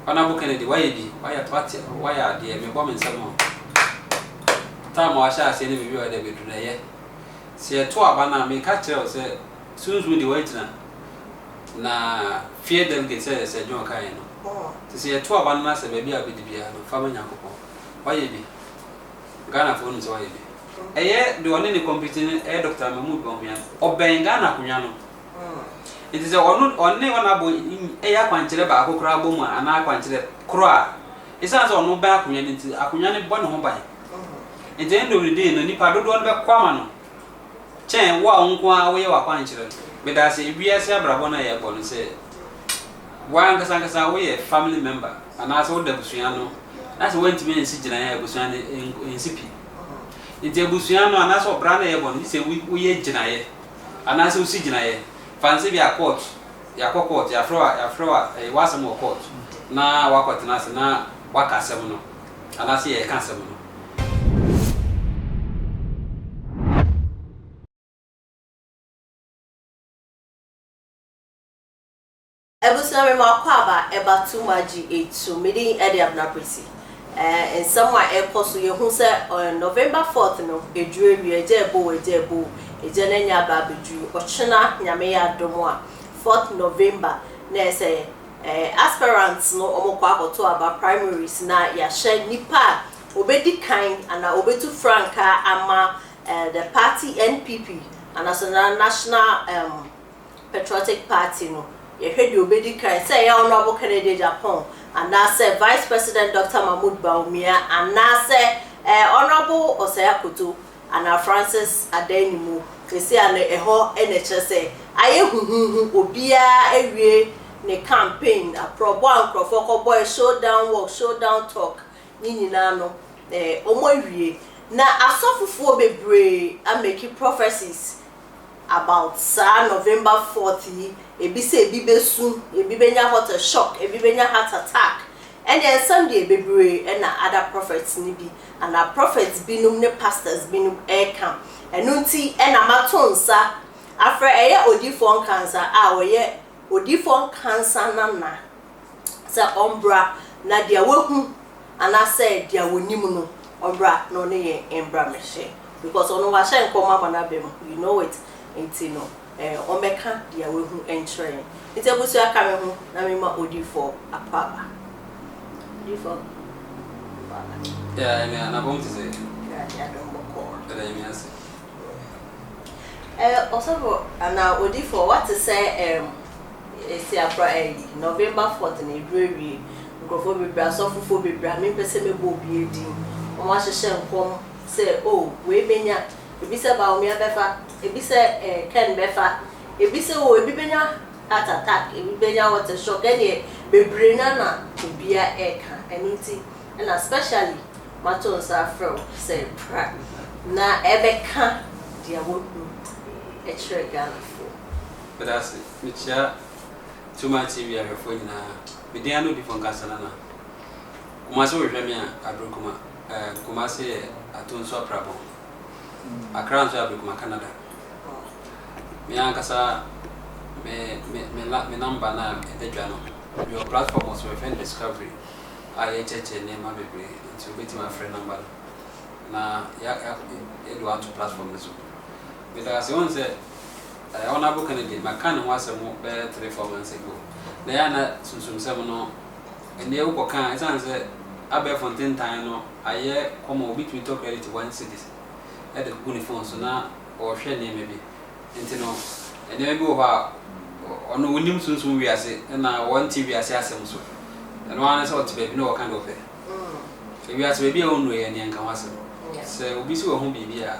Honourable Kennedy wayɛ bi, wayɛ wate wayɛ adeɛ, mebɔ me nsam o. Time a wahyɛ aseɛ ne mewie ɔyɛ dɛ bɛduru no ɛyɛ. Sɛ yɛto aba no a meka kyerɛ wo sɛ Sunsum deɛ wagyina na fear delegate sɛdeɛ Sir John kaeɛ no. Nti sɛ yɛto aba no na sɛ baabi a wobɛdi biara no fa ma Nyankopɔn. Wayɛ bi. Ghanafoɔ nim sɛ wayɛ bi. Ɛyɛ deɛ ɔne no compete no ɛyɛ Doctor Mahmood Bawumia. Ɔbɛn Ghana akonnwa no. Enti sɛ ɔno, ɔne ɔnabɔ yi yɛ akwankyerɛ baako koraa bɔ mu a, anaa akwankyerɛ koro a, esiane sɛ ɔno bɛn akonnwa no nti, akonnwa no bɔ ne ho ban. Enti ɛnde ɔredii no, nnipa dodoɔ no bɛko ama no kyɛn wo a wo nko ara woyɛ w'akwankyerɛ no. Meda ase, wiase abrabɔ no a yɛbɔ no, sɛ wo ankasa ankasa woyɛ family member anaasɛ woda abusua no na sɛ woantumi ansi gyinaeɛ a, abusua no nsi pi. Enti abusua no anaasɛ ɔbra no a yɛbɔ no, gye sɛ woyɛ gyinaeɛ. Anaasɛ wosi gyinaeɛ, fa no sɛ ebia court, yɛakɔ court, yɛafrɛ wo a, yɛafrɛ wo a, ɛyɛ w'asɛm wɔ court na woakɔtena ase na woaka asɛm no anaasɛ yɛreka asɛm no. Abusua me ma kɔ aba ɛba tu ma gye etu me din ɛde Abena Pretty ɛɛ nsɛm a ɛkɔ so yɛ hu sɛ ɛɛ November fourth no ɛduru awia agya ɛbɔ o agya ɛbɔ o agya na nya aba abɛduru ɔkyena Nyame yɛ adom a fourth November na ɛsɛ ɛɛ aspirants no ɔmo kɔ akɔto aba primaries na yahyɛ nipa a ɔbɛdi kan ana ɔbɛtu frankaa ama ɛɛ the party NPP anaso na national ɛɛm Patriotic Party no, yɛhwɛ deɛ ɔbɛdi kan, sɛ ɛyɛ Honourable Kennedy Agyapong anaasɛ Vice President Doctor Mahmoud Bawumia anaasɛ ɛɛ Honourable Osei Akoto anaa Francis Adan-Nimu, seesei ano ɛhɔ na ɛkyerɛ sɛ ayɛ huhuuhu, obiara awie ne campaign, aprɔbɔ a nkorɔfoɔ kɔbɔɛ, show down walk, show down talk, ne nyinaa no ɛɛ wɔawie. Na asɔfofoɔ bebree amake prophecies about saa November fourth yi, ebi sɛ ebi bɛsu, ebi bɛnya water shock, ebi bɛnya heart attack, ɛnneɛ nsɛm deɛ bebree na other prophets no bi anaa prophets binom ne pastors binom reka. Ɛno nti na mato nsa afrɛ ɛyɛ Odiyifoɔ Nkansah a ɔyɛ Odiyifoɔ Nkansah nana sɛ ɔmbra na deɛ wahu anaasɛ deɛ wɔnim no ɔmbra na ɔne yɛn mbra mmɛhyɛ because ɔno wahyɛ nkɔm ama n'aba mu you know it nti no eh, ɔmbɛka deɛ wahu nkyerɛ yɛn nti abusua ka me ho na mema odifo apɔ aba odifo apɔ aba yeah ɛmi anabɔm ti sɛ ɛwurade adom bɔkɔɔ ɛda ɛmi ase eh, ɔsɔfo anaa odifo wate sɛ eh, Esi afra early November fourth na edu ewie nkorɔfoɔ bebree asɔfofoɔ bebree a mempɛ sɛ mɛbɔ obiara din wɔn ahyehyɛ nkɔm sɛ oh wei bɛnya ebi sɛ Bawumia bɛfa ebi sɛ eh Ken bɛfa ebi sɛ oh ebi bɛnya heart attack ebi bɛnya water shock ɛneɛ bebree no ara na obiara ɛreka ɛno nti na specially mato nsa afrɛ wo sɛ bra na ɛbɛka deɛ wahunu kyerɛ Ghanafoɔ. Meda ase. Mekyia Tuma TV ahwɛfoɔ nyinaa. Me din ane Odifo Nkansah Nana. Mo ase wohwehwɛ me a, Abrikuma, eh, Kumasi yɛ Ato nso aprabɔn. Accra nso yɛ Abrikuma Canada. Me ankasa me, me, me, la, me number no a ɛda dwa no, mewɔ platform wɔ so wɔfrɛ no Discovery a yɛkyerɛkyerɛ nneɛma bebree nti wobɛtumi afrɛ number no na yɛde wo ato platform no so. Meda ase. Wohu sɛ Ɛɛ, Honourable Kennedy, maka ne ho asɛm bɛyɛ three, four months ago. Na ɛyɛ a na sunsumsɛm no, ɛnneɛ wokɔka a, ɛsiane sɛ abɛɛfo ntentan no ayɛ common, obi tumi tɔ credit one cedi de gu ne phone so na ɔrehwɛ nneɛma bi. Nti no, nneɛma bi wɔ hɔ a, ɔno ɔnnim sunsum wiase na ɔnte wiase asɛm nso. Ɛno ara ne sɛ ɔte baabi na ɔka deɛ ɔpɛ. Wiase baabi a ɔnnuruiɛ no, yɛnka ho asɛm. Sɛ obi si wɔ ho biribi a,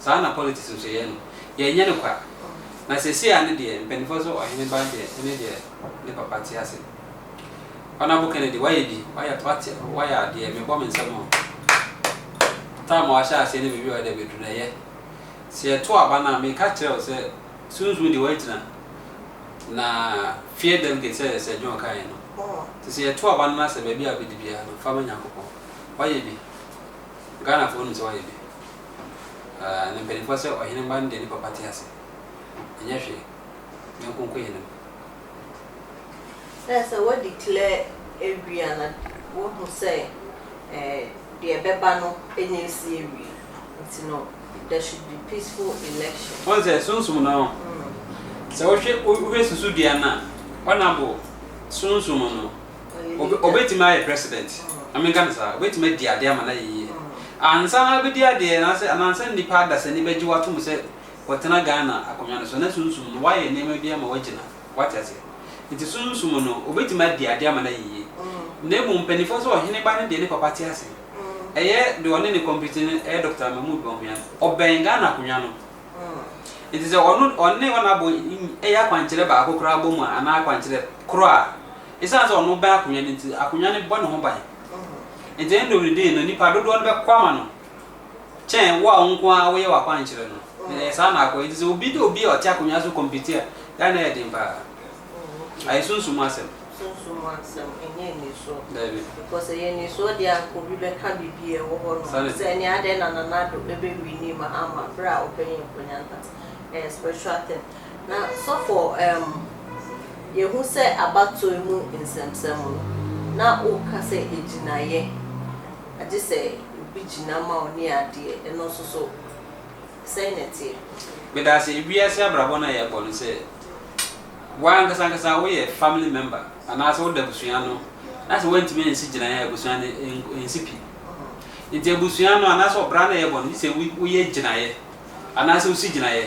Saa na politics nso yɛ no. Yɛnyɛ no kwa. Na seesei ara no deɛ, mpaninfoɔ se ɔhene ba deɛ ɛne deɛ ne papa te ase. Honourable Kennedy, woayɛ bi, woayɛ, woate, woayɛ adeɛ, mebɔ me nsam o. Time a wahyɛ aseɛ ne baabi a ɔde abɛduru no, ɛyɛ. Sɛ yɛto aba no a, meka kyerɛ wo sɛ, Sunsum deɛ wagyina, na fear delegate sɛ deɛ Sir John kaeɛ no. Nti sɛ yɛto aba no na sɛ baabi a abɛdi biara no, fa ma Nyankopɔn. Woayɛ bi. Ghanafoɔ nim sɛ woayɛ bi. Aa ne mpaninfoɔ sɛ ɔhene mma no deɛ ne papa te ase ɛnyɛ hwee ne nkonko yɛ ne ho. Sɛ sɛ wo declare awie a na wo hu sɛ eh deɛ ɛbɛba no ɛnyɛ ɛsi awie nti no there should be peaceful election. Wohu sɛ sunsum no sɛ wo hwɛ wo hwɛ susudua no a ɔna bo sunsum no. Obe, obetumi ayɛ president. Na menka no saa. Obetumi adi adeɛ ama no ayɛ yie. Ansa na wabɛdi adeɛ, anaasɛ, ana ansa na nnipa adasani bɛgye wo atom sɛ watena Ghana akonnwa no so, na Sunsum no, wayɛ nneɛma bi ama wagyina. Woate aseɛ? Nti Sunsum no, obetumi adi adeɛ ama no ayɛ yie. Na mmom mpanimfoɔ sɛ ɔhene ba no deɛ ne papa te ase. Ɛyɛ deɛ ɔne no compete no, ɛyɛ Doctor Mahmoud Bawumia. Ɔbɛn Ghana akonnwa no. Nti sɛ ɔno, ɔne wɔn abɔ, ɛyɛ akwankyerɛ baako koraa bɔ mu a, anaa akwankyerɛ korɔ a, Esiane sɛ ɔno bɛn akonnwa no nti, akonnwa no bɔ ne ho ban. Enti ɛnde ɔredii no, nnipa dodoɔ no bɛko ama no kyɛn wo a wo nko ara woyɛ w'akwankyerɛ no. Ɛyɛ saa na akɔ. Enti sɛ obi de obi a ɔte akonnwa so compete a, yɛ a na ɛyɛ den paa. Ayɛ sunsum mu asɛm. Sunsum mu asɛm, ɛnyɛ anisoɔ. Dabi. Because ɛyɛ anisoɔ deɛ a anka obi bɛka biribi a ɛwɔ hɔ nom sɛ ɛneɛ adɛn na Nana Addo bɛwini ma ama berɛ a ɔbɛn akonnwa no but ɛyɛ spiritual thing. Na sɔfo emm yɛhu sɛ abatoɔ mu nsɛmsɛm no na woka sɛ agyinaeɛ agye sɛ obi gyina ma wo ne adeɛ ɛno nso so sɛn na ɛteɛ? Medaase wiase abrabɔ no a yɛkɔ no sɛ wo ankasa ankasa woyɛ family member anaasɛ woda abusua ano na sɛ woantumi ansi gyinaeɛ a abusua no ɛnsi pi nti abusua no anaasɛ ɔbra no a yɛbɔ no gye sɛ woyɛ gyinaeɛ anaasɛ wosi gyinaeɛ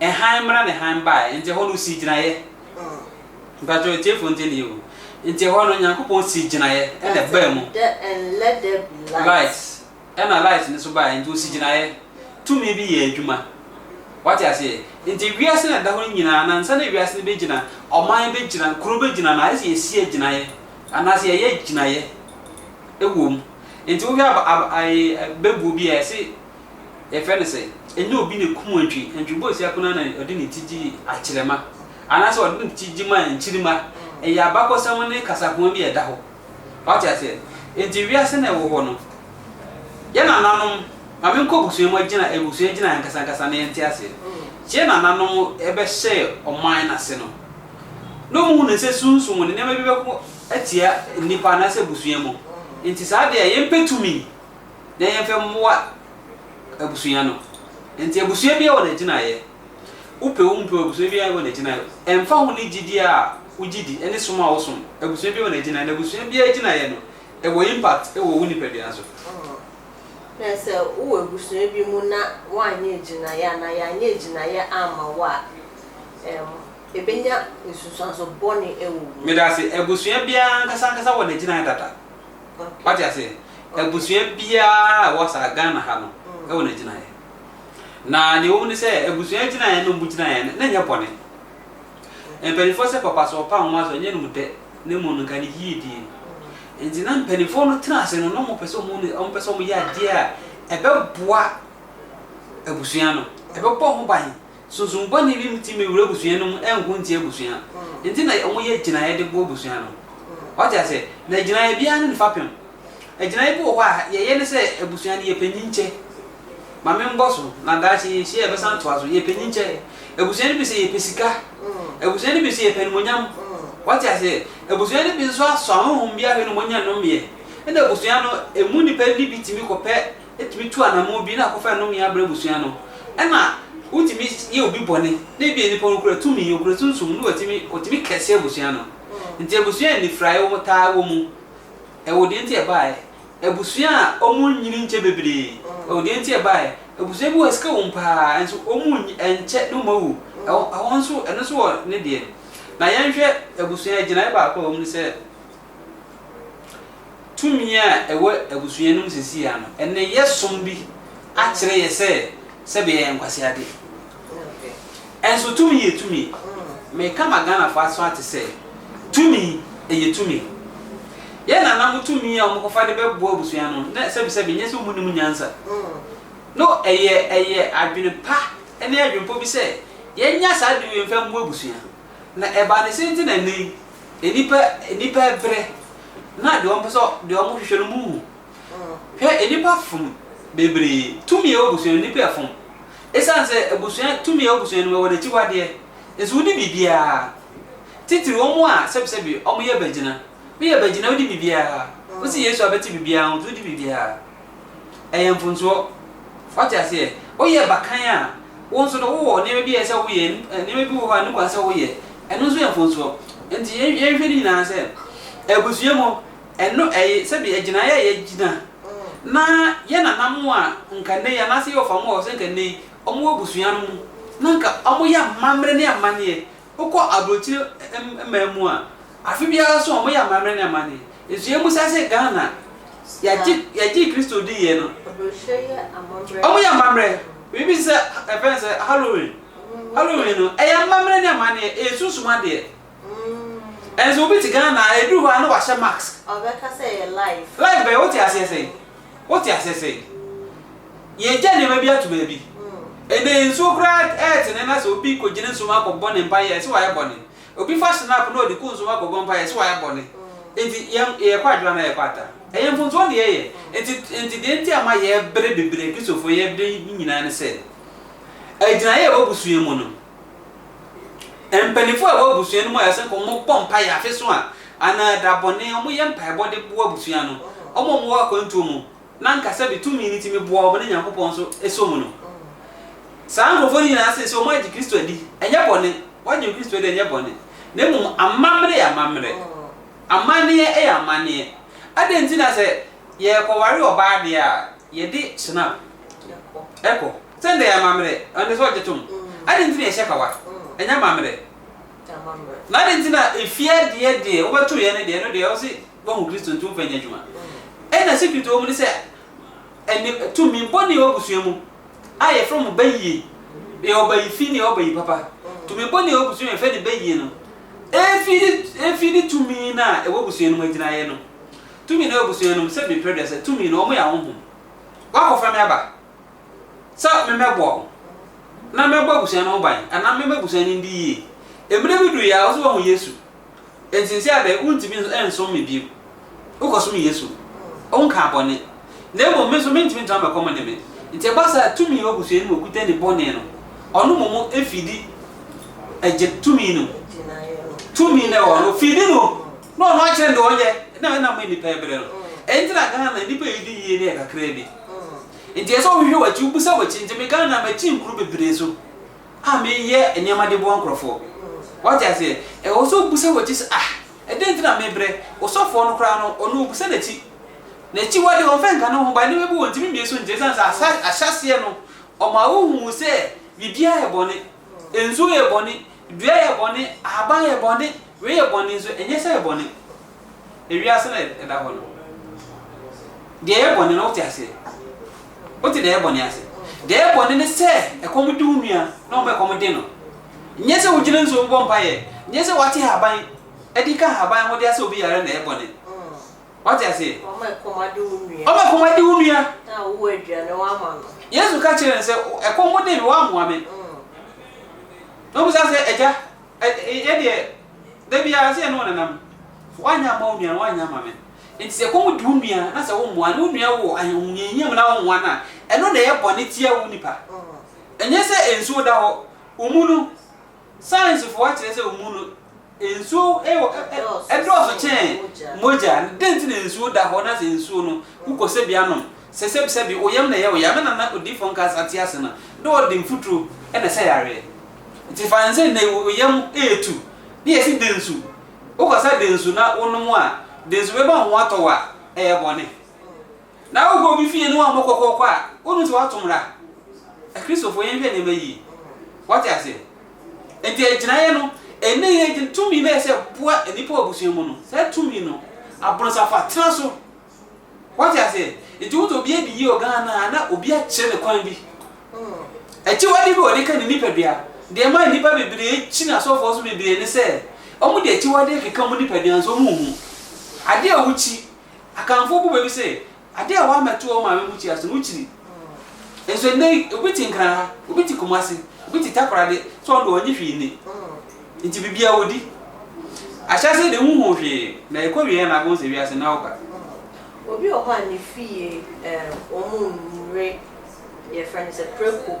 Hann mmra ne hann baeɛ nti ɛhɔ no ɔsii gyinaeɛ. Mpakyɛw atiefo ntie ne yie o. Nti ɛhɔ no Nyankopɔn sii gyinaeɛ ɛna ɛbaa mu. Light ɛna light no nso baeɛ nti ɔsi gyinaeɛ. Tumi bi yɛɛ adwuma. Wate aseɛ? Nti wiase no a ɛda hɔ no nyinaa no ansa na wiase no bɛgyina, ɔman bɛgyina, kuro bɛgyina no ayɛ sɛ yɛsi agyinaeɛ anaa sɛ yɛyɛ agyinaeɛ ɛwɔ mu. Nti wohwɛ aba aba ɛɛ bɛbuo bi a ɛse. yɛfrɛ no sɛ, ɛnyɛ obi na ɛkum antwi. Antwi bɔɔ si akono ara na ɔde ne ti gyee akyerɛma, anaasɛ ɔde ne ti gye maa nkyirimma. Ɛyɛ abakɔsɛm ne kasakoa bi a ɛda hɔ. Wate aseɛ? Enti wiase na ɛwɔ hɔ no, yɛn nananom, ma menkɔ abusua mu, agyina, abusua gyina ankasankasa na yɛnte aseɛ. Yɛn nananom bɛhyɛɛ ɔman no ase no, na wɔhunuu sɛ sunsum ne nneɛma bi bɛko atia nnipa anaasɛ abusua mu. Enti saa adeɛ a yɛmpɛ tumi. na yɛmfa mmoa abusua no. Enti abusua biara wɔ n'agyinaeɛ. Wopɛ o wompɛ o, abusua biara wɔ n'agyinaeɛ. Ɛmfa ho ne gyidie a wogye di ne som a wosom, abusua biara wɔ n'agyinaeɛ, na abusua biara gyinaeɛ no, ɛwɔ impact wɔ wo nipadua so. Na sɛ wowɔ abusua bi mu na woanyɛ agyinaeɛ anaa yɛanyɛ agyinaeɛ amma wo a, ɛbɛnya nsunsuanso bɔne wɔ wo mu. Medase, abusua biara ankasa ankasa wɔ n'agyinaeɛ dada. Wate aseɛ? Abusua biara a ɛwɔ saa Ghana ha no ɛwɔ n'agyinaeɛ. Na deɛ ɛwɔ mu ne sɛ abusua agyinaeɛ no mu gyinaeɛ no na nyɛ bɔne. Mpanimfoɔ sɛ papa so ɔpa nwoma so ɛnyɛ nom dɛ na mmom no nka ne yie die. Nti na mpanimfoɔ no tena ase no na wɔn pɛ sɛ wɔn wɔn pɛ sɛ wɔn yɛ adeɛ a ɛbɛboa abusua no ɛbɛbɔ ho ban. Sunsum bɔne bi ntumi nwura abusua no mu nko ntia abusua nti na wɔyɛ gyinaeɛ de boa abusua no. Wate aseɛ? Na gyinaeɛ biara ne ne fapem. Gyinaeɛ bi wɔ hɔ a, yɛyɛ ne sɛ abusua no yɛpɛ nyinkyɛ. Ma menkɔ so, na daakye yɛnhyia a yɛbɛsan atoa so. Yɛpɛ nyinkyɛ. Abusua no bi sɛ yɛpɛ sika. Abusua no bi sɛ yɛpɛ animuonyam. Wate aseɛ? Abusua no bi nso asɔ ahonhom bi ahwɛ na wɔnya nnɔmeɛ. Ɛna abusua no, ɛmu nnipa no bi tumi kɔpɛ tumi tu anammɔn bi na akɔfa nnome abrɛ abusua no. Ɛna wotumi yɛ obi bɔne, na ebia nipa no kura tumi, okura sunsum, na watumi, otumi kɛse abusua no. Nti abusua a anifurae wom taa wɔ mu. Ɛwɔ deɛ nti a ɛbaeɛ. Abusua a wɔnnyini nkyɛ bebree. Ɛwɔ deɛ nti a ɛbaeɛ. Abusua bi wɔ hɔ a sika wom paa, nso wɔnnyi, ɛnkyɛ na wɔawu. Ɛhɔ, ɛhɔ nso, ɛno nso wɔ ne deɛ. Na yɛnhwɛ abusua, gyinaeɛ baako a ɛwɔ mu ne sɛ, Tumi a ɛwɔ abusua no mu seesei ara no, nneyɛe som bi akyerɛ yɛn sɛ sɛbe yɛyɛ nkwaseade. Nso tumi yɛ tumi. Meka ma Ghanafo aso ate sɛ, tumi yɛ tumi. Yɛn nananom tumi a wɔkɔfa de bɛboa abusua no, na sɛbesɛbe nyɛ sɛ wɔnnim nyansa. No, ɛyɛ ɛyɛ adwene pa ne adwempɔ bi sɛ yɛnya saa de wei mfa mmoa abusua. Na ɛbaa ne sɛ nti na nnɛyi Nnipa nnipa brɛ na deɛ wɔpɛ sɛ deɛ wɔn hwehwɛ no mu wu hwɛ nnipa fom bebree tumi ɛwɔ abusua no nnipa ɛfom ɛsiane sɛ abusua tumi ɛwɔ abusua no mu ɛwɔ n'akyiwadeɛ nso wodi biribiara titiri wɔn a sɛbisɛbi wɔn yɛ bagyina woyɛ bagyina wodi biribiara wosi Yesu a bɛte biribiara ho nti wodi biribiara. ɛyɛ mfomsoɔ. Wate aseɛ? Woyɛ bakan a, wo nso no, wowɔ nneɛma bi a ɛsɛ sɛ woyɛ, nneɛma bi wɔ hɔ a ɛnni kwan sɛ woyɛ. Ɛno nso yɛ mfomsoɔ. Enti yɛn, yɛnhwɛ ne nyinaa sɛ, abusua mu, ɛno ɛyɛ sɛbi agyinaeɛ a yɛgyina. Na yɛn nananom a nka nnɛ yi, anaasɛ yɛwɔ fa mu wɔ hɔ sɛ nka nnɛ yi, wɔwɔ abusua no mu, na nka wɔyɛ amammerɛ ne amanneɛ Wokɔ aburokyire man mu a, afe biara so wɔyɛ amammerɛ ne amanne. Nsua mu sɛ sɛ Ghana yɛagye yɛagye Kristo di yɛ no, wɔyɛ amammerɛ. Biribi te sɛ yɛfrɛ no sɛ Halloween. Halloween no, ɛyɛ amammerɛ ne amanneɛ, ɛyɛ sunsum adeɛ. Nanso obi te Ghana a, ɛduru hɔ a na wahyɛ mask. Ɔbɛka sɛ ɛyɛ life. Life bɛn? Wote aseɛ sɛn? Wote aseɛ sɛ yɛagya nneɛma bi ato baabi? Ɛnɛ nsuo koraa ɛretene na sɛ obi kɔgyina nsuo mu akɔbɔ ne mpaeɛ a, ɛse wayɛ bɔne. Obi fa snap na ɔde kɔ nsuo mu akɔbɔ mpaeɛ a, ɛse wayɛ bɔne. Enti yɛn yɛkɔ adwene anaa yɛkɔ ata? Ɛyɛ mfomsoɔ na yɛyɛ. Enti enti deɛ nti a ɛma yɛbrɛ bebree, Kristofoɔ yɛbrɛ yi nyinaa ne sɛ, agyinaeɛ a ɛwɔ abusua mu no, Mpanyimfo a ɛwɔ abusua no mu a ɛsɛ sɛ wɔbɔ mpae afe so a anaa da bɔne, wɔyɛ mpaebɔ de boa abusua no, wɔn a wɔwɔ akwantuo mu na anka sɛbe tumi no tumi boa wɔn ne Nyankopɔn nso sɔ mu no. Saa nkurɔfoɔ no nyinaa seesei wɔagye Kristo adi. Ɛnyɛ bɔne. Wɔagye Kristo adi, ɛnyɛ bɔne. Na mmom amammerɛ yɛ amammerɛ. Amanneɛ yɛ amanneɛ. Adɛn nti na sɛ Yɛrekɔware ɔbaa deɛ a, yɛde Schnapp kɔ. Sɛ ɛnde ɛyɛ amammerɛ, ɛnde sɛ ɔgye tom. Adɛn nti na yɛhyɛ kawa? Ɛnyɛ amammerɛ. Na adɛn nti na efie adeɛ deɛ wobɛto yɛn no deɛ, ɛno deɛ ɛwɔ sɛ woahu Kristo nti womfa nyɛ adwuma? Ɛnna secret a ɛwɔ mu ne sɛ, ɛnne tumi bɔne a ɛwɔ abusua mu a yɛfrɛ no bayie, yɛwɔ bayi fi na yɛwɔ bayi papa. Tumi bɔne a ɛwɔ abusua mu a yɛfrɛ no bayie no, efi ne efi ne tumi no a ɛwɔ abusua no mu agyinaeɛ no. Tumi no abusua nom sɛ mepere dɛ sɛ tumi no wɔn yɛ ahonhom wakɔfa me aba sɛ memmɛboa wo na mɛbɔ abusua no ho ban anaa mɛma abusua no ndi yie mmere bi duruiɛ a wo so wahu Yesu enti nse adɛ wontumi nsom me bio wokɔsom Yesu wonkaa bɔne na mmom me nso mentumi ntra mɛkɔ mo ne me nti ɛba saa tumi wɔ abusua no mu okuta ni bɔne no ɔno momo fidi ɛgye tumi no tumi no ɛwɔ no fidi no. Na ɔno akyerɛ deɛ ɔyɛ na ɛna ama nnipa ɛbrɛ no. Ɛno nti na Ghana nnipa a yɛdi yie no yɛ kakra bi. Nti ɛsɛ sɛ wohwehwɛ w'akyi, wobisa w'akyi. Nti me Ghana makyi nkuro bebree so a meyɛ nneɛma de boa nkorɔfoɔ. Wate aseɛ? Ɛwɔ sɛ wobisa w'akyi sɛ ah ɛdɛn nti na mebrɛ? Osɔfoɔ no koraa no ɔno obisa n'akyi. N'akyi hɔ deɛ ɔmfa nka ne ho but nneɛma bi wɔ ntumi mmie so nti ɛsiane sɛ ahyɛaseɛ no ɔma wohuu sɛ biribiara yɛ bɔne. Nsuo yɛ bɔne, dua yɛ bɔne, ahaban yɛ bɔne, wei yɛ bɔne nso ɛnyɛ sɛ ɛyɛ bɔne. Ewiase na ɛda hɔ no. Deɛ ɛyɛ bɔne no wote aseɛ? Wote deɛ ɛyɛ bɔne ase? Deɛ ɛyɛ bɔne ne sɛ ɛkɔm de wo nua na ɔma ɛkɔm de no. Nyɛ sɛ wogyina nsuo mu bɔ mpaeɛ, nyɛ sɛ woate ahaban de ka ahaban ho de asɛ obi yareɛ na ɛyɛ bɔne. Wate aseɛ? Wɔn a ɛkɔm ade wo nua. Wɔn a ɛkɔm ade wo nua. Na wowɔ aduane woama no. Yesu ka kyerɛɛ no sɛ, Ɛkɔm de me, woammoa me. Na ɔbisa no sɛ, Agya, yɛ deɛ, da biara ɛsɛ sɛ yɛne wo nenam. Woanyɛ amma wo nua no, woanyɛ ama me. Enti sɛ ɛkɔm de wo nua, na sɛ wommoa no, wo nua wɔ ahohiahia mu na wommoa no a, ɛno na ɛyɛ bɔne tia wo nipa. Ɛnyɛ sɛ nsuo da hɔ, wo mu no, Sayansifo akyerɛ sɛ omu no nsu dɔɔso kyɛn mogya. Dɛn nti na nsu da hɔ na sɛ nsu no wokɔ sɛbea nom? Sɛ sɛbisɛbi wo yam na ɛyɛ wo ya, me nana Odiyifo Nkasa te ase no, na ɔde mfuturo na ɛsɛ yareɛ. Nti fa no sɛ nnɛ yi wo yam retu na yɛse de nsu, wokɔsa de nsu na wonom a, de nsu bɛma wo ho atɔ wo a, ɛyɛ bɔne. Na wokɔ obi fie na wammɔ kɔkɔɔkɔ a, wonhu sɛ wato mmara? Akristofo, yɛnhwɛ nneɛma yiye. Woate ase? Enti agyinaeɛ no, ɛnnɛ yi agyin, tumi no a ɛsɛ boa nnipa wɔ abusua mu no, saa tumi no, abononsafo atena so. Woate ase? Enti wohu sɛ obi adi yie wɔ Ghana a, na obi akyerɛ no kwan bi. Akyiwade bi wɔ de ka ne nipadua. Deɛ ɛma nnipa bebree kyini asɔfoɔ so bebree ne sɛ, wɔde akyiwadeɛ keka wɔn nipadua nso wɔnhu. Adeɛ a wokyi. Akanfoɔ bu bɛ bi sɛ, Adeɛ a wɔammɛto wɔn maame bukyia so no, wokyiri. Nso nnɛ yi, obi te Nkran ha, obi te Kumasi, obi te Takoradi, sɛ ɔno deɛ ɔnnye hwee nni. Nti biribiara wɔdi. Ahyɛaseɛ deɛ wonhuu hwee, na ɛkɔwieɛ na abom sɛ wiase no awoka. Obi wɔ hɔ a ne fie wɔn nnure, yɛfrɛ no sɛ prako.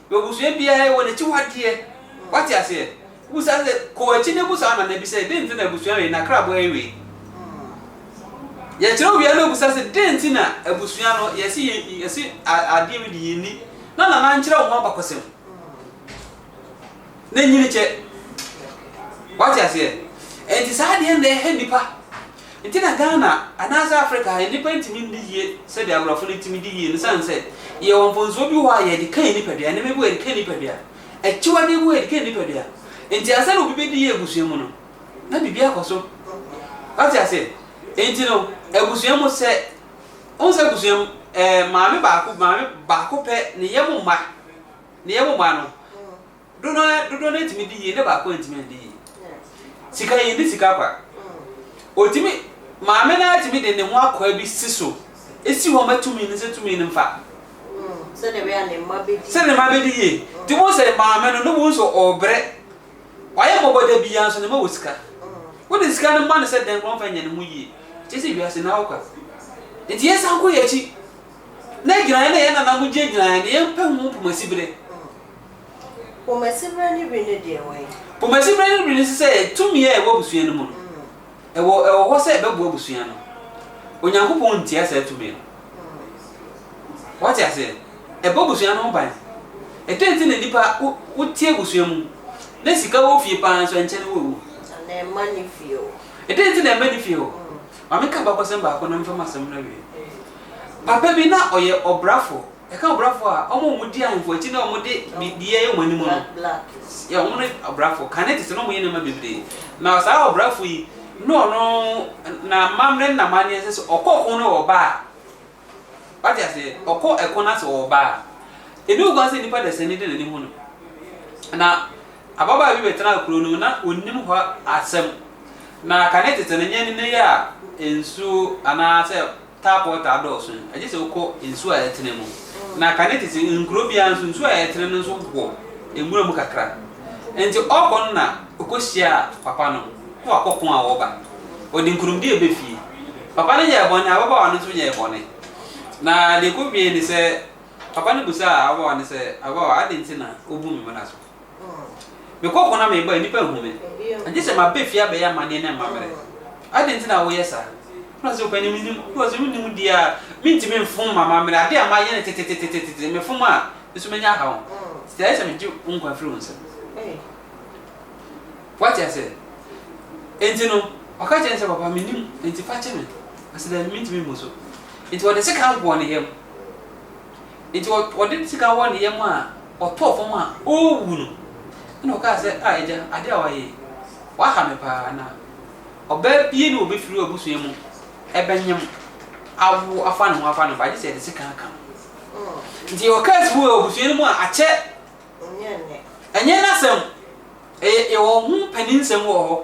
Abusua biara yɛ wɔn akyiwadeɛ. Wate aseɛ? Wobisa sɛ, kɔ w'akyi ne busa wo nana bi sɛ, dɛn nti na abusua wei, n'akrabɔ yɛ wei? Yɛkyerɛw wie a na obisa sɛ, dɛn nti na abusua no, yɛse yɛ, yɛse adeɛ wei de yɛnni? Na nana ankyerɛ wo ho abakɔsɛm. Na nyini kyɛ. Wate aseɛ? Enti saa adeɛ no na ɛha nnipa. Nti na Ghana anaasɛ Africa ha nnipa ntumi ndi yie sɛdeɛ aborɔfo no tumi di yie no sane sɛ yɛwɔ mponsoɔ bi wɔ hɔ a yɛde kan nnipadua, nneɛma bi wɔ hɔ a yɛde kan nnipadua, akyiwadeɛ bi wɔ hɔ a yɛde kan nnipadua. Nti ansa na obi bɛdi yie abusua mu no na biribi akɔ so. Woate aseɛ? Nti no abusua mu sɛ wohu sɛ abusua mu ɛɛ maame baako maame baako pɛ ne yam mma ne yam mma no Dodoɔ no dodoɔ no atumi di yie na baako antumi andi yie. Sika yɛn di sika kwa. Otumi maame no atumi de ne ho akwaa bi si so esi hɔ ma tumi no sɛ tumi no mfa. Sɛ ne bɛyɛ ne mma bɛdi. Sɛ ne mma bɛdi yie. Ti wɔn sɛ maame no ne wɔn nso ɔbrɛ. Wayɛ mmɔbɔ da bi ya nso ne ma wɔ sika. Wode sika no ma no sɛ dɛn kɔn fɛ nyɛ ne ho yie. Kyɛ sɛ wiase na hɔ kwa. Nti yɛn san kɔ yɛn akyi. Na gyinaeɛ na yɛn nana mo gyina gyinaeɛ na yɛn pɛ ho mpomasi bere. Pomasiberɛ ne wi no deɛ wɛn? Pomasiberɛ ne wi no nso sɛ tumi a ɛwɔ abusua no mu no, ɛwɔ ɛwɔ hɔ sɛ ɛbɛboa abusua no. Onyankopɔn ntia saa tumi no. Wate aseɛ? Ɛbɔ abusua no ho ban. Ɛdɛn nti na nnipa wo, wote abusua mu, na sika wɔ fie paa nso ɛnkyɛ na wɔawu? Anaa ɛmma ne fie hɔ. Ɛdɛn nti na ɛmma ne fie hɔ? Ma menka abakɔsɛm baako na memfa m'asɛm no awie. Papa bi, na ɔyɛ ɔbrafoɔ. Yɛka ɔbrafo a, wɔn a wɔdi ahemfo akyi na wɔde biribiara yɛ wɔn anim no, yɛ wɔn ne ɔbrafo. Kane te sɛ na wɔyɛ nneɛma bebree. Na saa ɔbrafo yi, ne ɔno na amammerɛ ne n'amanneɛ nsɛ sɛ ɔkɔ ɔko na ɔba a, wate aseɛ, ɔkɔ ɛko na sɛ ɔba a, ɛni ho kwan sɛ nipa dasani de n'ani hu no. Na ababaa bi bɛtena kuro no mu, na ɔnim hɔ asɛm. Na kane tete no, nyɛ nnɛ yi a nsuo anaasɛ Tapɔɔ taa dɔɔso no, gye sɛ wokɔ nsu a ɛtene mu. Na kane te sɛ nkuro biara nso, nsu a ɛtene no nso wɔ nwura mu kakra. Enti ɔrekɔ no na ɔkɔhyiaa papa no na wakɔ ko a ɔreba. Ɔde nkonimdie ba fie. Papa no yɛɛ bɔne, ababaawa no nso yɛɛ bɔne. Na deɛ ɛkɔwiee ne sɛ, papa no bisaa ababaawa no sɛ, Ababaawa, adɛn nti na wobu me mmara so? Mekɔ ɔko na meba a, nnipa nhu me. Agye sɛ maba fie abɛyɛ amanneɛ ne amammerɛ. Adɛn nti na woyɛ saa? Ɔka sɛ, Ɔpanin, menim. Ɔka sɛ, Wonim deɛ a, mentumi mfom m'amammerɛ. Adeɛ a mayɛ no tetetetete, mefom a, me nso mɛnya haw. Enti ɛyɛ sɛ megye wo nkwa firi wo nsam. Woate aseɛ? Enti no, ɔka kyerɛɛ no sɛ, Papa, menim, enti fa kyɛ me. Ɔse, Dabi, mentumi mmu so. Enti wɔde sekan bɔɔ ne yam. Enti ɔde ne sika wɔ ne yam a ɔtɔɔ fam a ɔrewu no, ɛnna ɔkaa sɛ, Ah agya, adeɛ a woayɛ yi, woaha me paa. Na ɔbaa biara nni hɔ a ɔbɛfiri w'abusua mu bɛnyem awo afa ne ho afa ne ba, gye sɛ yɛde sika aka no. Enti ɛwɔ curse bi wɔ abusua no mu a akyɛ. Ɛnyɛ nnɛ. Ɛnyɛ nnɛ asɛm. Ɛyɛ yɛwɔ ho mpaninsɛm wɔ hɔ.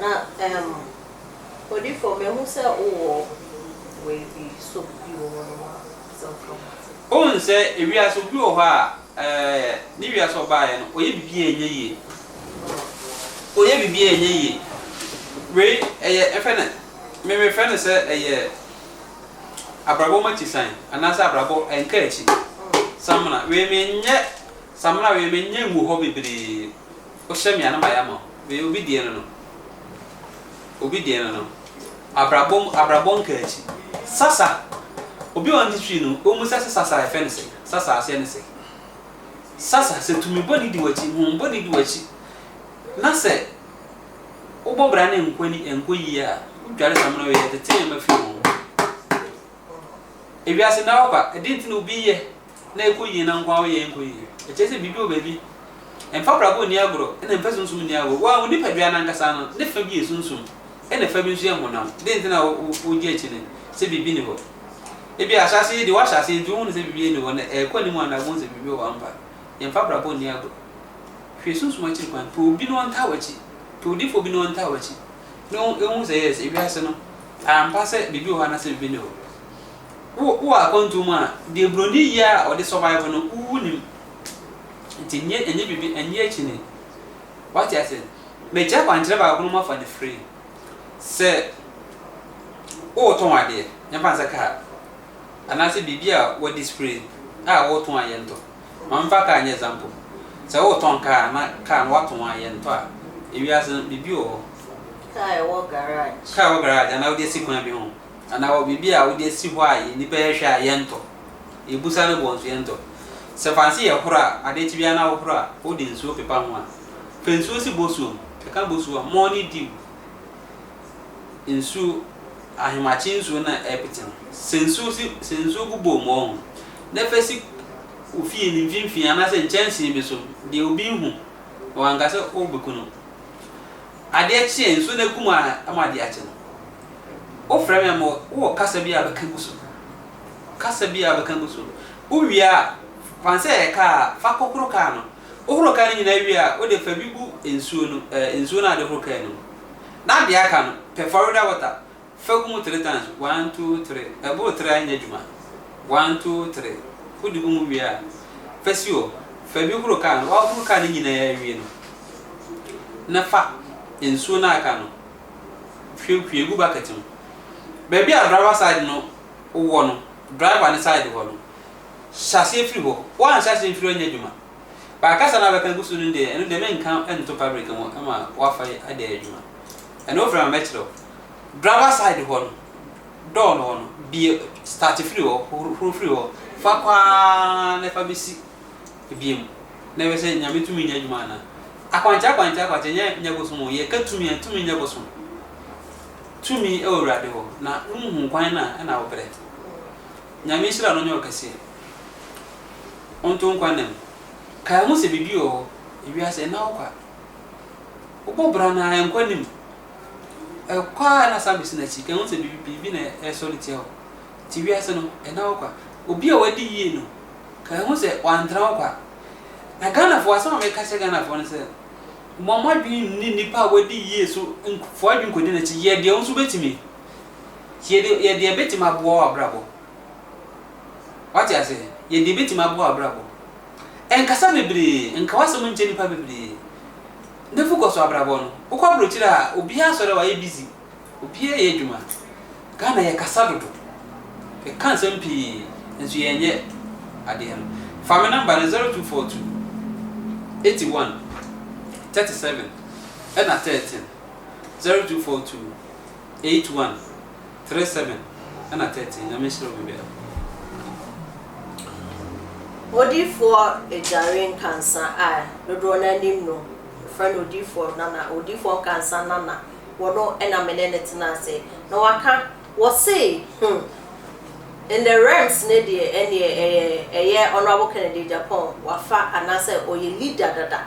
Na ehm Odifo mehu sɛ wowɔ wei bi so bi wɔ hɔ nom a sɛ woka ho asɛm. Wohu sɛ ewiase obi wɔ hɔ a eh ne wiase ɔbaeɛ no ɔyɛ biribi a ɛnyɛ yie. Ɔyɛ biribi a ɛnyɛ yie. Wei ɛyɛ yɛfrɛ no me mefrɛ no sɛ ɛyɛ abrabɔ mu akyisan anaasɛ abrabɔ nkaakyi samena. Wei menyɛ samena wei menyɛ ngu hɔ bebree. Wohyɛ me a na mayɛ ama wo. Meyɛ obi deɛ no no. Obi deɛ no no. Abrabɔ mu abrabɔ nkaakyi. Sasa! Obi a ɔn history no ɔmmisa sɛ Sasa yɛfrɛ no sɛn? Sasa aseɛ ne sɛn? Sasa sɛ tumi bɔ ne di w'akyi, hon bɔ ne di w'akyi na sɛ wobɔ bra ne nkɔ ani nkɔ yie a wodware samina wei ɛtete nneɛma firi wo ho. Ewiase nnɛ awɔ kwa, ɛdeɛ nti na obi yɛ na ɛkɔ yie na nkoa woyɛ nkɔ yie. Ɛkyerɛ sɛ biribi wɔ baabi. Ɛmfa prako nni agorɔ, ɛna ɛmfa sunsum nni agorɔ. Wo ara wo nipadua no ankasa no, ne fa bi yɛ sunsum, ɛna fa bi nso yɛ honam. Dɛn nti na wogye akyi nnɛ sɛ biribi nni hɔ? Ebia ahyɛaseɛ yi deɛ woahyɛ aseɛ nti wohunu sɛ biribiara nni hɔ, na ɛrekɔ anim a na woahu sɛ biribi wɔ hɔ ampa. Yɛmfa prako nni agorɔ. Hwɛ sunsum akyiri kwan. Pɛ obi na ɔntaa w'akyi. Pɛ odiyifoɔ bi na ɔntaa w'akyi, na ɔnhu sɛ yes, ewiase no, ampa sɛ biribi wɔ hɔ anaasɛ biribi nni hɔ. Wo wɔ akwantu mu a, deɛ buroni yɛ a ɔde survive no, wo wonim. Nti nnyɛ ɛnyɛ biribi, ɛnyɛ akyini. Wate ase? Mekyerɛ akwankyerɛ baako na moafa no free. Sɛ woretɔn adeɛ, yɛmfa no sɛ kaa, anaasɛ biribi a wɔde spray a woretɔn a yɛntɔ. Ma memfa kaa nyɛ example. Sɛ woretɔn kaa na kaa no woatɔn a yɛntɔ a, ewiase no biribi wɔ hɔ. Kaa a ɛwɔ garage. Kaa a ɛwɔ garage anaa wode asi kwan bi ho. anaa wɔ biribi a wode asi hɔ a nnipa rehwɛ a yɛntɔ. Yɛbusa no bɔ nso yɛntɔ. Sɛ fanse yɛ horo a, adeɛ kye biara na wohoro a, wode nsuo pepa ho a, fa nsuo si bosuo mu. Ɛka bosuo a, mɔɔ ne diw nsuo, ahemakye nsuo no a ɛrepete no. Sɛ nsuo si, sɛ nsuo gu bowl mɔɔ ho na fa si wo fie no mfimfini anaasɛ nkyɛnsee bi so, deɛ obi nhu na wanka sɛ wobɛku no. Adeɛ kye a, nsuo no agu mu ara ma adeɛ akye no. Wofrɛ me a, mewɔ, wowɔ kasa bi a bɛka gu so? Kasa bi a bɛka gu so. Wowie a, fa no sɛ ɛyɛ kaa a, fa kɔhoro kaa no. Wohoro kaa no nyinaa wie a, wode fa bi gu nsuo no, ɛɛ, nsuo no a wode horo kaa no mu. Na deɛ aka no, pɛ Florida water, Fagu mu three times one two three Ɛboro three a ɛnyɛ adwuma one two three Wode gu mu wie a fa si hɔ Fa bi horo kaa no Woahoro kaa no nyinaa awie no na fa nsuo no a aka no hwie hwie gu bucket mu Baabi a driver side no wɔ no driver no side hɔ no hyɛ aseɛ firi hɔ Woanhyɛ aseɛ mfiri hɔ ɛnyɛ adwuma But kasa no a wobɛka agu so no deɛ ɛno deɛ menka nto public ho ma woafa de ayɛ adwuma. Ɛnna ɔfrɛ me ma mɛkyerɛ wo. Driver side hɔ no, door no hɔ no, bue, start firi hɔ, horo firi hɔ, fa kɔ ara na ɛfa bɛsi ebien mu, na ɛbɛyɛ sɛ Nyame tumi nyɛ adwuma anaa? Akwankyerɛ, akwankyerɛ, akwankyerɛ, nyɛ, nyɛ bosom o, yɛka tumi a, tumi nyɛ bosom. Tumi wɔ Awurade hɔ, na wonhu kwan no a, ɛnna wobrɛ. Nyame nhyira no nyɛ wo kɛseɛ. Wonto nkwa nna mu. Kae ho sɛ biribi wɔ hɔ, ewiase, ɛnna wo kwa. Wobɔ bra no a, nkɔ anim. Kɔ ara na san besi n'akyi. Kan hu sɛ biribi na ɛresɔ no tia o. Te wiase no, ɛnna wo kwa. Obi a wadi yie no, kan hu sɛ wantra wo kwa. Na Ghanafoɔ, asɛm a meka kyerɛ Ghanafoɔ ne sɛ, momma mo adwene nni nnipa a wadi yie so, mfa w'adwene nkɔdi n'akyi. Yɛ deɛ wo nso wobɛtumi. Yɛ deɛ, yɛ deɛ ɛbɛtumi aboa w'abrabɔ. Woate aseɛ? Yɛ deɛ ɛbɛtumi aboa w'abrabɔ. Ɛnkasa bebree, ɛnka w'asɛm nkyɛ nnipa bebree. Nufu kɔ so abrabɔ no, wokɔ abrokyire a obiara asɔre a wayɛ busy, obiara yɛ adwuma. Ghana yɛ kasa dodo, yɛ ka nsɛm pii nso yɛn yɛ adeɛ no. Fa me number no zero two four two eighty one thirty seven ɛna thirteen zero two four two. eight one three seven ɛna thirteen nyame nhyira wo biribiara mu. Odiyifoɔ Adware Nkansa a dodoɔ no ara nim no, wɔfrɛ no Odiyifoɔ Nana, Odiyifoɔ Nkansa Nana, ɔno na me ne no tena ase na waka, ɔse hmm, in the realms no deɛ ɛnneɛ ɛyɛ ɛyɛ Honourable Kennedy Agyapong wafa anaasɛ ɔyɛ leader dada,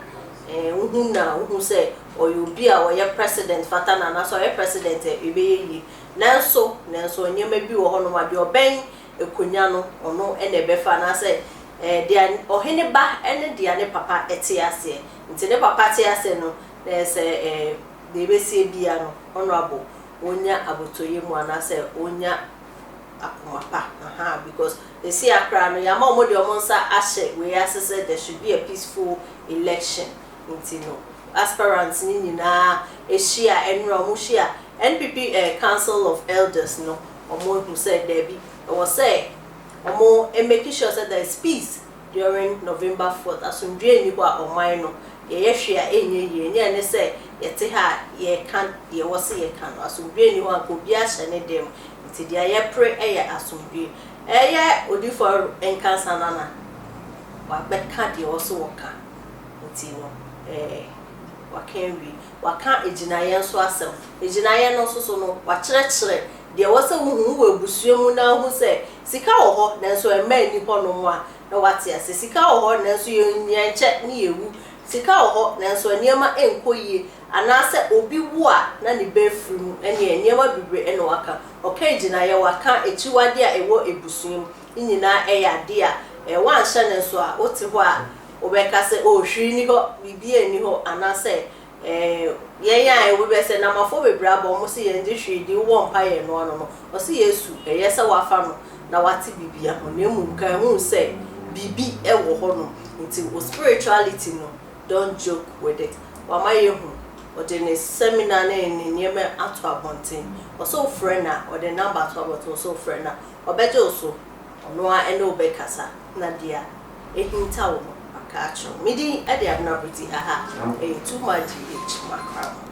eh, wohu na wohu sɛ Ɔyɛ obi a ɔyɛ president fata no anaasɛ ɔyɛ president a ɛbɛyɛ yie. Nanso, nanso nneɛma bi wɔ hɔnom a deɛ ɔbɛn akonwa no ɔno na ɛbɛfa anaasɛ deɛ ɔhene ba ne deɛ ne papa te aseɛ nti ne papa te aseɛ no sɛ deɛ ɛbɛsie biara no honourable ɔnya abotɔyɛ mu anaasɛ ɔnya akoma pa aha because ɛsi akora no yɛama wɔn deɛ wɔn nsa ahyɛ wei ase sɛ there should be a peaceful election. nti no aspirants no nyinaa hyia ɛnnerɛ ɔmo hyia NPP council of elders no ɔmo ahu sɛ daabi ɛwɔ sɛ ɔmo make sure sɛ there is peace during November fourth asomdwie nni hɔ a ɔman no yɛyɛ hwee a ɛnyɛ yie ne ɛne sɛ yɛte ha a yɛka deɛ ɛwɔ sɛ yɛka no asomdwie nni hɔ anka obiara hyɛ ne dɛm nti deɛ yɛpere ɛyɛ asomdwie ɛyɛ Odifoɔ Nkansah Nana wabɛka deɛ ɛwɔ sɛ ɔka. nti no, ɛɛ, waka awie. Waka agyinaeɛ nso asɛm. Agyinaeɛ no nso so no, wakyerɛkyerɛ deɛ ɛwɔ sɛ wohu. Wowɔ abusua mu na wohu sɛ sika wɔ hɔ nanso mma nni hɔnom a, na woate aseɛ. Sika wɔ hɔ nanso yɛnkyɛ ne yɛwu. Sika wɔ hɔ nanso nneɛma nkɔ yie. Anaasɛ obi wo a, na ne ba afiri mu. Ɛnneɛ nneɛma bebree na waka. Ɔka agyinaeɛ, waka akyiwadeɛ a ɛwɔ abusua mu. Ne nyinaa yɛ adeɛ a, ɛɛ, woanhyɛ no nso a, wote hɔ a, Wobɛka sɛ, Oh, hwee nni hɔ, biribiara nni hɔ, anaasɛ, Eh, yɛn a, obi bɛ sɛ, Namafoɔ bebree aba, wɔn se yɛn gye hwee di, wowɔ mpa yɛn no ano no, ɔse Yesu, ɛyɛ sɛ wafa no na wate bibia ho, na mmom ka hu sɛ biribi wɔ hɔ nom, nti wo spirituality no, don't joke with it. Wama yɛahu, ɔde ne seminar ne ne nneɛma ato abɔnten, ɔse wo frɛ no a, ɔde ne number ato abɔnten, ɔse wo frɛ no a, ɔbɛgye wo so, ɔno ara ne wo bɛkasa, na dea. ahintaw no aka akyerɛ wo. Me din de Abena Pretty haha ɛyɛ too much GH makra mu.